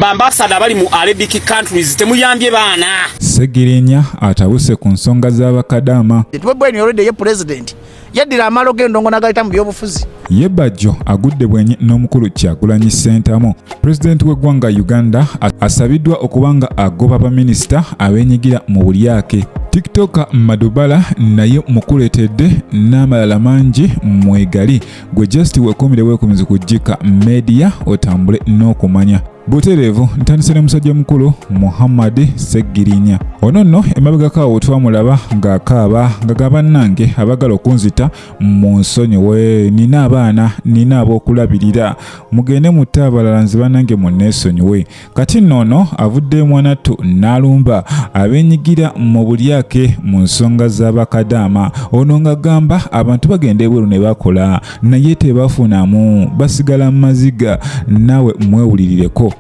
Bambasada abali mu Arabic countries temuyambye baana. Segirinya atabuse ku nsonga z'abakadaama. Tubebweni olwedde ye president yaddira amalo g'endongo n'agayita mu byobufuzi. Ye Bajjo agudde bwenyi n'omukulu Kyagulanyi Ssentamu. Pulezidenti w'eggwanga Uganda asabiddwa okuba nga agoba baminisita abeenyigira mu bulyake. TikToker Madubala naye mukuleetedde n'amalala mangi mwegali. gwe just wekumire wekumzi ku jika media otambule n'okumanya butereevu ntandise ne musajja mukulu muhammad seggirinya ono nno emabegakaawo twamulaba ng'akaaba nga ga bannange abagala okunzita mu nsonyiwe nina abaana nina ab'okulabirira mugende mutte abalala nze bannange munneesonyiwe kati nno ono avudde mwanattu n'alumba abenyigira mu bulyake mu nsonga z'abakadaama ono ng'agamba abantu bagenda ebweru ne bakola naye tebafunamu basigala mu maziga naawe mwewulirireko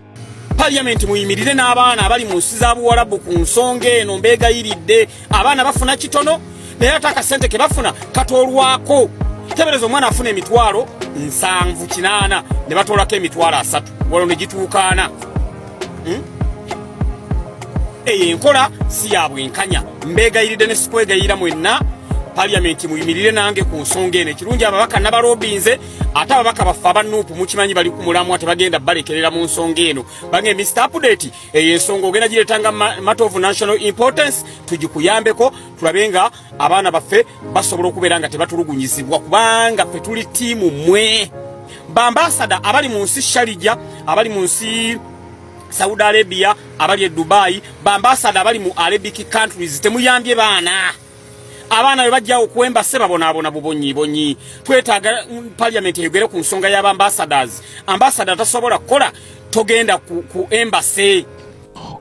parliament muyimirire n'abaana abali mu nsi za buwalabu ku nsonga eno mbeegayiridde abaana bafuna kitono naye ate akasente ke bafuna katolwako tebereza omwana afuna emitwalo nsanvu kinaana ne batolako emitwalo asatu walo ne gituukaana hmm? eyo enkola si ya bwenkanya mbeegayiridde ne sikwegayirira mwenna paliyamenti muyimirire nange ku nsonga eno ekirungi ababaka nabalobinze ate ababaka baffe abanuupu mukimanyi bali ku mulamwa tebagenda balekerera mu nsonga eno bange mr update eyo ensonga ogenda giretanga matter of national importance tugikuyambeko tulabe nga abaana baffe basobola okubeera nga tebatulugunyizibwa kubanga ffe tuli tiimu mwe bambasada abali mu nsi sharija abali mu nsi saudi arabia abali e dubai bambasada abali mu arabic countries temuyambye baana abaana be bajja okuwemba se babonaabona bubonyi bonyi twetaaga mm, parliament eyogere ku nsonga y'aba ambassadors ambassador tasobola kukola togenda ku, ku embassy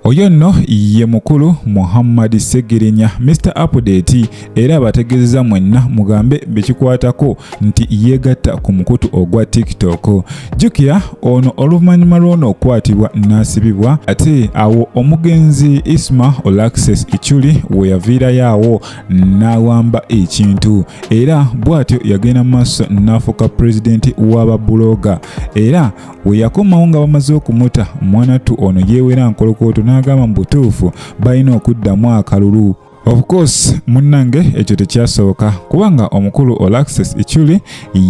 oyo nno ye mukulu muhammad segirinya mr apudeti era abategeezeza mwenna mugambe bekikwatako nti yeegatta ku mukutu ogwa tiktok jjukira ono oluvannyuma lw'ono okukwatibwa n'asibibwa ate awo omugenzi isma olaxes ichuli we yaviirayo awo n'awamba ekintu era bw'atyo yagenda mu maaso n'afuuka pulezidenti w'ababuloga era we yakomawo nga bamaze okumuta mwanattu ono yeewera nkolokooto n'agamba mu butuufu balina okuddamu akalulu Of course munnange ekyo tekyasoboka kubanga omukulu Olaxes Ichuli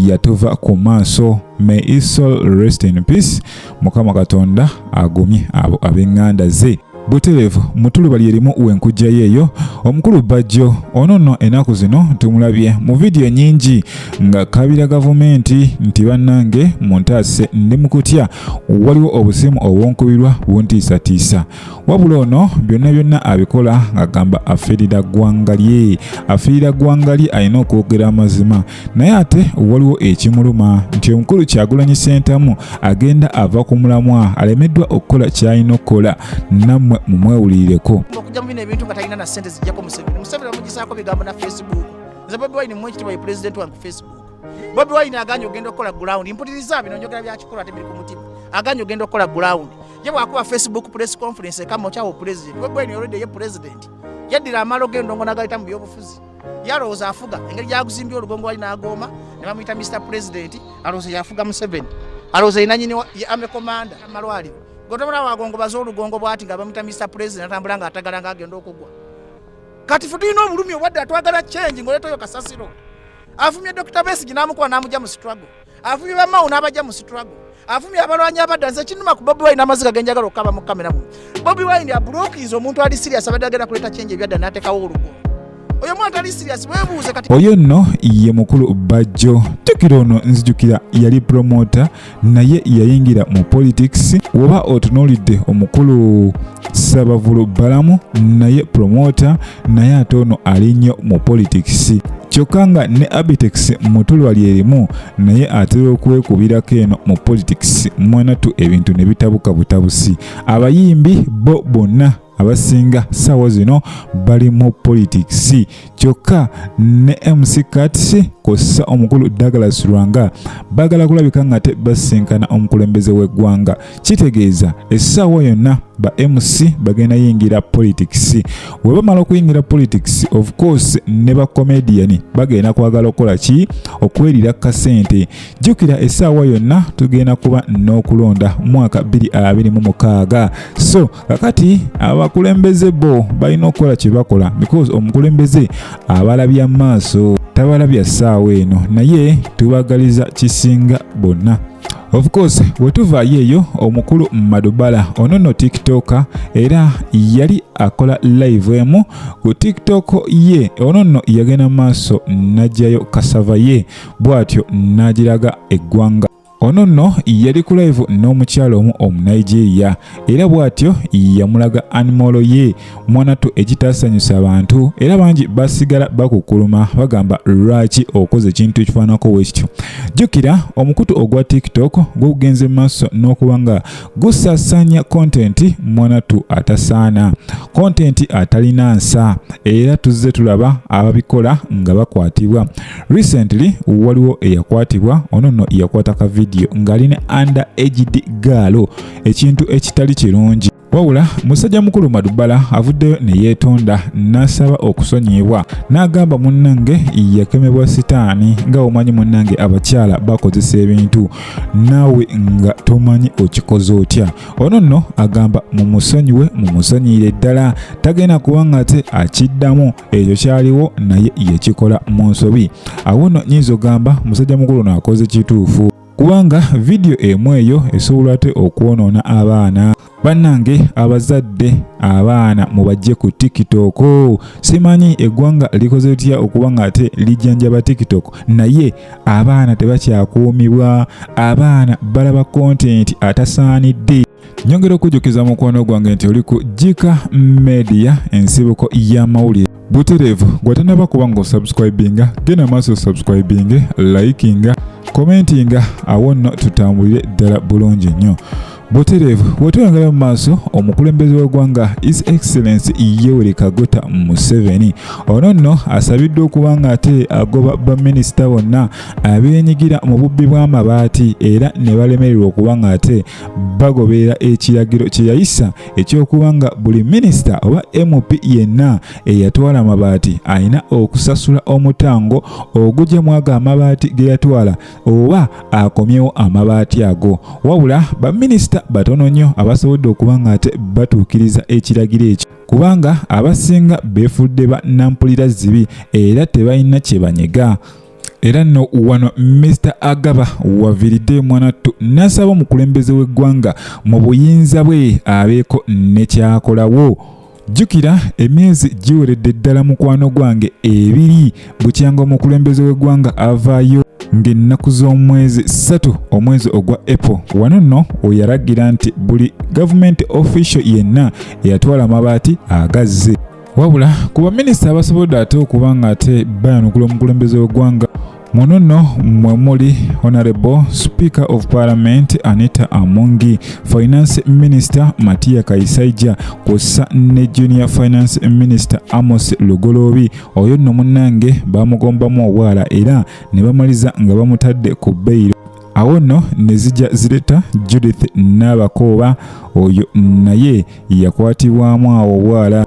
yatuva ku maaso. May his soul rest in peace. Mukama Katonda agumye abo ab'enganda ze. Buterevu mutulubali erimu wenkujjayo eyo omukulu Bajjo ono nno enaku zino tumulabye mu vidiyo nyingi nga kabira gavumenti nti bannange muntaase ndi mukutya waliwo obusimu obwonkubirwa buntiisatiisa wabula ono byonna byonna abikola ng'agamba afiirira ggwanga lye afiirira ggwanga lye alina okwogera amazima naye ate waliwo ekimuluma nti omukulu kyagulanyi sentamu agenda ava ku mulamwa alemeddwa okukola kyalina okukola nammwe mumwewulirireko bobi wine aganye ogenda okukola gulawundi mpuliriza bino njogera byakikolwa tebiri ku mutima aganye ogenda okukola gulawundi ye bwakuba facebook press conference ekama okyawo president webweni olwedde ye president yaddira amaalo g'endongo n'agayita mu byobufuzi yalowooza afuga engeri gyaguzimbye olugongo wali n'agooma ne bamuyita mr president alowooza yafuga museveni alowooza yenanyini ame commander amalwaliro gotobola wagongo baze olugongo bwati nga bamuyita mr president atambula nga atagala nga agenda okugwa kati fe tulina obulumi obwadde atwagala change ngaoletayo kasasiro avumye dr besigi n'amukuba n'amugya mu struggle avumye bamawo n'abajja mu struggle avumye abalwanyi abadda nze kinuma ku bobi wine amaziga genjagala okukaba mu kamera muno bobi wine abulookinze omuntu ali sirias abadde agenda kuleeta kyenje ebyadda n'ateekawo olugumu oyo mwana ali sirias webuuze kati oyo nno ye mukulu bajjo jjukira ono nzijukira yali promota naye yayingira mu politics woba otunuulidde omukulu sabavulu balamu naye promota naye ate ono ali nnyo mu politics kyokka nga ne abitex mutulwa lyerimu naye atera okuwekubirako eno mu politics mwanatu ebintu ne bitabuka butabusi abayimbi bo bonna abasinga saawa zino bali mu politics kyokka ne mc cats kossa omukulu douglas lwanga bagala kulabika nga te basinkana omukulembeze w'eggwanga kitegeeza essaawa yonna ba mc bagenda yingira politics webamala okuyingira politics of course ne ba comedian bagenda kwagala okukola ki okwelira kasente jukira essaawa yonna tugenda kuba n'okulonda mwaka 226 so kakati abakulembeze bo balina okukola kye bakola because omukulembeze abalabya maaso tabalabya ssaawa eno naye tubagaliza kisinga bonna of course wetuvaayo eyo omukulu madubala ono no tiktoka era yali akola live emu ku tiktok ye ono no yagenda maaso najjayo kasava ye bwatyo nagiraga eggwanga ono nno yali ku live n'omukyala omu omunigeria era bw'atyo yamulaga animolo ye mwanattu ekitaasanyusa abantu era bangi basigala bakukuluma bagamba lwaki okoze ekintu ekifaanako wekityo jjukira omukutu ogwa tiktok gwegugenze mu maaso n'okuba nga gusasanya kontenti mwanattu atasaana kontenti atalina nsa era tuzze tulaba ababikola nga bakwatibwa Recently waliwo eyakwatibwa ono no yakwata ka video ngali ne under aged girl ekintu ekitali kirungi wabula musajja mukulu madubala avuddeyo ne yeetonda n'asaba okusonyiyibwa n'agamba munnange yakemebwa sitaani nga omanyi munnange abakyala bakozesa ebintu naawe nga tomanyi okikoze otya ono nno agamba mumusonyiwe mumusonyiyire ddala tagenda kuba nga ate akiddamu ekyo kyaliwo naye yekikola mu nsobi awo no nyinza ogamba musajja mukulu naakoze kituufu kubanga vidiyo emu eyo esobola ate okwonoona abaana bannange abazadde abaana mubajje ku tiktok simanyi eggwanga likoze litya okuba nga ate lijjanjaba tiktok naye abaana tebakyakuumibwa abaana balaba kontenti atasaanidde nyongera okujjukiza mukwano gwange nti oli ku jika media ensibuko y'amawulire butereevu gwatanaba kuba nga osubscribinga genda maaso osubscribinge likinga commentinga awo nno tutambulire ddala bulungi nnyo butereevu wetweyongera mu maaso omukulembeze w'eggwanga is excellence yoweri kaguta museveni ono nno asabiddwa okuba nga ate agoba baminisita bonna abenyigira mu bubbi bw'amabaati era ne balemererwa okuba nga ate bagoberera ekiragiro kye yayisa eky'okuba nga buli minisita oba mp yenna eyatwala amabaati alina okusasula omutango ogugya mwago amabaati ge yatwala oba akomyewo amabaati ago wabula baminisita batono nnyo abasobodde okuba ng'ate batuukiriza ekiragiro ekyo kubanga abasinga beefudde ba nampulira zibi era tebalina kye banyega era nno wano Mister Agaba waviridde mwanattu nasaba omukulembeze w'eggwanga mu buyinza bwe abeeko ne kyakolawo jjukira emyezi giweredde ddala mukwano gwange ebiri bukyanga omukulembeze w'eggwanga avaayo ng'ennaku z'omwezi ssatu omwezi ogwa apple wano nno oyaragira nti buli gavumenti official yenna eyatwala amabaati agazze wabula ku baminisita abasobodde ate okuba nga ate bayanukula omukulembeze w'eggwanga muno nno mwe muli honorable speaker of parliament anita amungi finance minister matiya kaisaija kwossa ne junior finance minister amos lugoloobi oyo nno munnange bamugombamu obwala era ne bamaliza nga bamutadde ku beyiro awo nno ne zijja zireta judith n'abakooba oyo naye yakwatibwamu awo obwala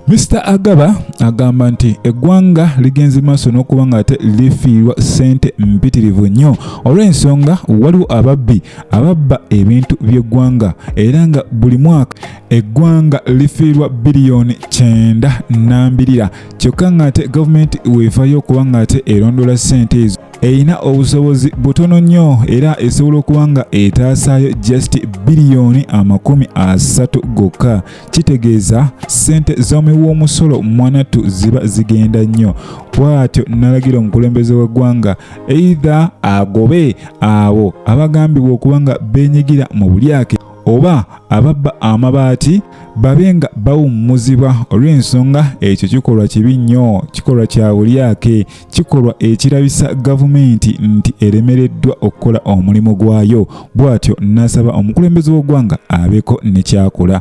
Mr Agaba agamba nti eggwanga ligenze maaso n'okuba nga ate lifiirwa ssente mpitirivu nnyo olw'ensonga waliwo ababbi ababba ebintu by'eggwanga era nga buli mwaka eggwanga lifiirwa biliyoni kyenda nambirira kyokka ng'ate gavumenti weevayo okuba ng'ate erondoola ssente ezo erina obusobozi butono nnyo era esobola okuba nga etaasaayo just biliyoni amakumi asatu gokka kitegeeza ssente z'omi w'omusolo mwanattu ziba zigenda nnyo bw'atyo nalagira omukulembeze w'eggwanga eitha agobe abo abagambibwa okuba nga beenyigira mu bulyake oba ababba amabaati babe nga bawummuzibwa olw'ensonga ekyo kikolwa kibi nnyo kikolwa kya bulyake kikolwa ekirabisa gavumenti nti eremereddwa okukola omulimu gwayo bw'atyo n'asaba omukulembeze w'oggwanga abeeko ne kyakola